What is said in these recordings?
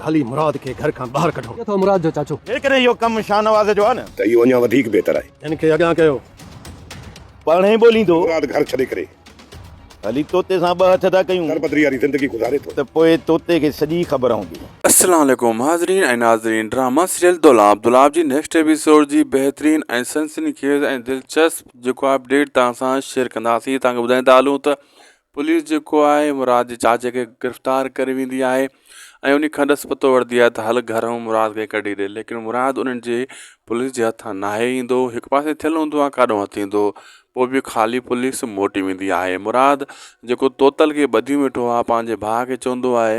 هلي مراد کي گهر کان ٻاهر ڪڍون. اٿو مراد جو چاچو. جيڪڏهن اهو ڪم شاهنواز جو آهي نه. ته اهو اڃا وڌيڪ بهتر آهي. هن کي اڳيان ڪيو. پاڻ ئي ٻوليندو. مراد گهر ڇڏي ڪري. هلي طوطي سان ٻه هٿ ٿا ڪيون. دربدري واري زندگي گذاري ٿو. ته پوء طوطي کي سڄي خبر هوندي. السلام عليڪم حاضرين ۽ ناظرين ڊراما سيريل دولاب دولاب جي نيڪسٽ ايپيسوڊ جي بهترين ۽ سنسني خيز ۽ دلچسپ جيڪو اپڊيٽ توهان سان شيئر ڪنداسين توهان کي ٻڌائيندا هلون ته پوليس جيڪو آهي مراد جي چاچي کي گرفتار ڪري ويندي آهي ۽ انهي کان ڏس پتو وٺدي آهي ته هل گهر ۽ مراد کي ڪڍي ڏي ليڪن مراد انهن جي پوليس جي هٿان ناهي ايندو هڪ پاسي ٿيل هوندو آهي ڪاڏو هٿ ايندو پوء به خالي پوليس موٽي ويندي آهي مراد جيڪو طوطل کي ٻڌيون ويٺو آهي پنهنجي ڀاء کي چوندو آهي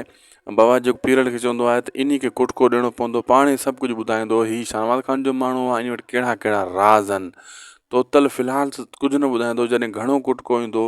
بابا جيڪو پيرڙ کي چوندو آهي ته انهي کي ڪٽڪو ڏيڻو پوندو پاڻ هي سڀ ڪجهه ٻڌائيندو هي شاهنواز خان جو ماڻهو آهي انهي وٽ ڪهڙا ڪهڙا راز آهن طوطل فلحال ڪجهه نه ٻڌائيندو جڏهن گهڻو ڪٽڪو ايندو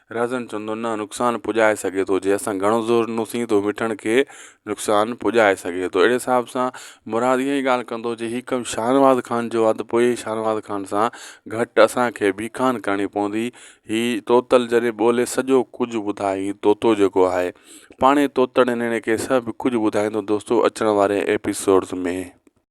رهزن چوندو، نه نقصان پڄائي سگهي ٿو، جي اسان گهڻو زور ڏنوسين ته هو مٺڻ کي نقصان پڄائي سگهي ٿو. اهڙي حساب سان مراد اها ئي ڳالهه ڪندو، جي هي ڪم شاهنواز خان جو آ ته پوء شاهنواز خان سان گهٽ اسان کي به ڪانه ڪرڻي پوندي. هي طوطل جڏهن ٻولي سڄو ڪجهه ٻڌائي، هي طوطو جيڪو آهي، پاڻهي طوطڙ نيڻي کي سڀ ڪجهه ٻڌائيندو دوستو اچڻ واري ايپيسوڊز ۾.